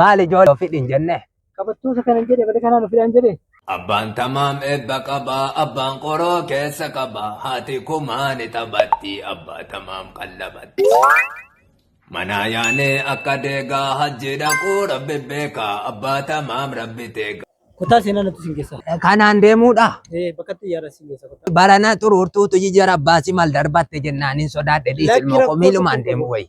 Maal ijoollee ofii hin jenne? Qabattoosa kanan jedhe malee kanaan ofidhaan jedhe. Abbaan tamaam eebba qaba, abbaan qoroo keessa qaba, haati kumaa ni taphatti, abbaa tamaam qallabatti. Manaa yaanee akka deegaa, hajji dhaquu rabbi beeka, abbaa tamaam rabbi teega. Kutaa seenaa natti isin geessa. Kanaan deemuudha. Eh, bakka xiyyaara isin geessa kutaa. Barana xuruurtuutu jijjiira baasii maal darbatte jennaan hin sodaadhe dhiisi Lakki ilmoo koo rakkoo miilumaan tokko deemu qabu. wayya.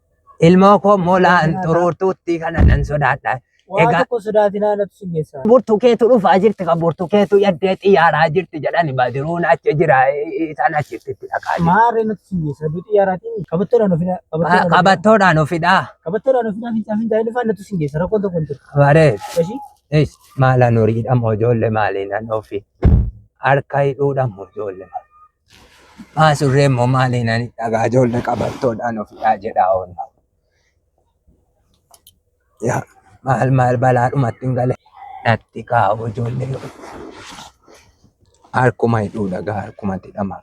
Ilmoo koo molaan xuruurtuutti kana nan sodaadha. Waan Egaa- tokko sodaatinaa natu sin geessaa. Burtukeetu dhufaa jirti kan burtukeetu yaddee xiyyaaraa jirti jedhani badiruun achi jira isaan achitti itti dhaqaa jiru. Maarree natu sin geessaa. Aduu xiyyaaraatiin qabattoodhaan ofina. Qa- Qabattoodhaan ofidhaa. Qabattoodhaan ofina fincaa fincaa hin dhufaan natu sin geessa. Rakkoon tokko hin jiru. Baree. Eshi. Is maala nuriidha moo ijoollee maaliin an ofi harka hidhuudha moo ijoollee. Abbaa surree immoo maaliin ani dhagaa ijoollee qabattoodhaan ofidhaa jedhaa oolla. Yaa maal maal balaadhumatti hin gale natti kaa'u ijoollee harkuma hidhuu dhagaa harkumatti dhama.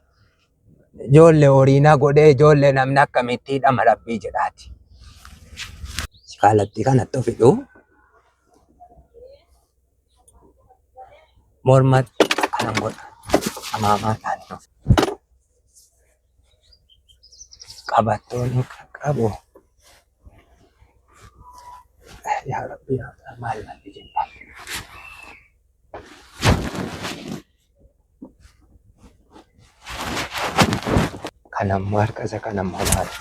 Ijoollee horii na godhee ijoollee namni akkamitti hidhama rabbii jedhaati. Kaalattii kanatti of hidhuu mormatti akkanan godha amaamaa taane of qabattoonni qaqqabu yaa rabbi yaa maal maal jenna Kan amma harka isa kan amma maali?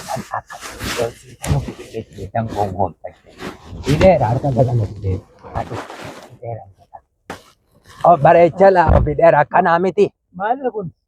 Kan akka hojii kan hojii kan gongoon fayyee. Hidheera harka isa kan hojii. Hidheera. Bareechala hidheera akkanaa miti. Maalirra kun?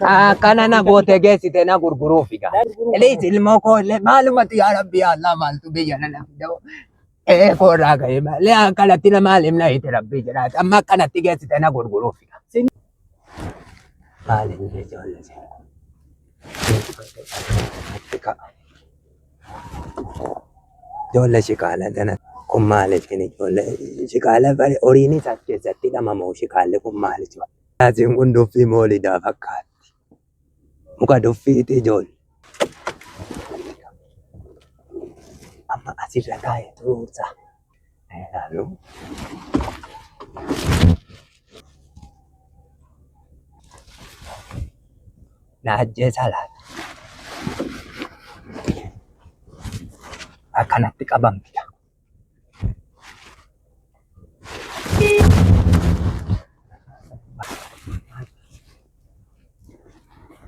Akkana na goote geessite na gurguruuf egaa. Eliis ilmoo koo illee maalumatti yaa rabbi yaa Allah maaltu biyya na lafidoo. Ee koo irraa ga'ee malee akkanatti na maal himna hiti rabbi jedhaati. Amma akkanatti geessite na gurguruuf egaa. Maal inni ijoollee seera. Ijoollee shikaala gana kun maali isin ijoollee shikaala bari horiinis as keessatti dhamamoo shikaalli kun maali ijoollee. Asiin kun duffii moolidaa fakkaatti. Muka duffiiti ijoollee. Amma asirra taa'ee turuursaa. Hello. Naajjee salaan. Akkanatti qabamtidha.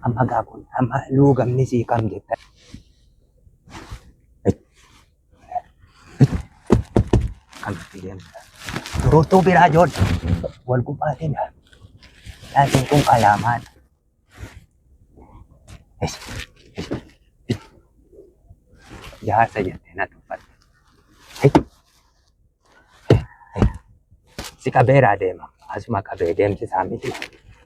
Amma gaafun amma luugamni sii kam jettan. Dururtuu biraa joon wal gubbaatiin laatiin kun qalaamaan. Jaarsa jettee na tuffatte. Si qabeeraa deema. Asuma qabee deemsisaa miti.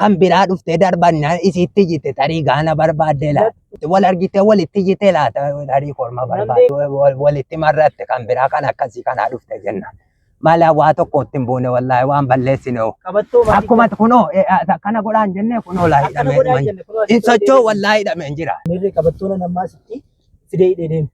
kan biraa dhuftee darbannaan isiitti jite tarii gaana barbaaddee laata wal argitee walitti jite laata tarii korma barbaadde wal- walitti marratte kan biraa kan akkasii kanaa dhufte jenna mala waa tokkotti hin buune wallaahi waan balleessine hoo. Qabattoo maatii akkuma kunoo eh, ah, akkana godhaan jennee kunoo laa akkana godhaa hidhamee jenne kunoo hin sochoo wallaahi hidhameen jira. Mirri qabattoon ammaa sitti fidee hidhee deema.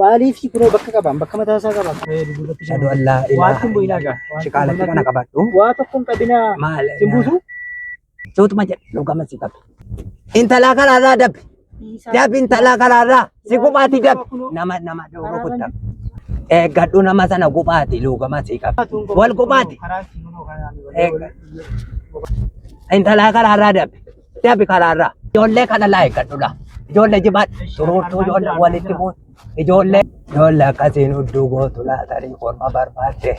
Maaliifii kunoo bakka qabaan bakka mataa isaa qabaa kana jedhu duubatti Ashhadu an laa ilaaha Waatti hin bu'inaa gaa. illallah. Shiqaalatti kana qabadhu. Waa tokko hin qabinaa. Maal? Sin buusu? Suutuma jedhe dhugama si qabe. Intalaa karaarraa dabbi. Dabbi intalaa karaarraa si gubaatii dabbi. Nama nama dhowru kutta. Eeggadhu nama sana gubaati luugama si qabe. Wal gubaati. Eeggadhu. Intalaa karaarraa dabbi. Dabi karaarraa. Ijoollee kana laa eeggadhudha. Ijoollee jimaan turuurtuu ijoollee walitti buutu. Ijoollee ijoollee akkasiin hudduu gootu laatarii korma barbaadde.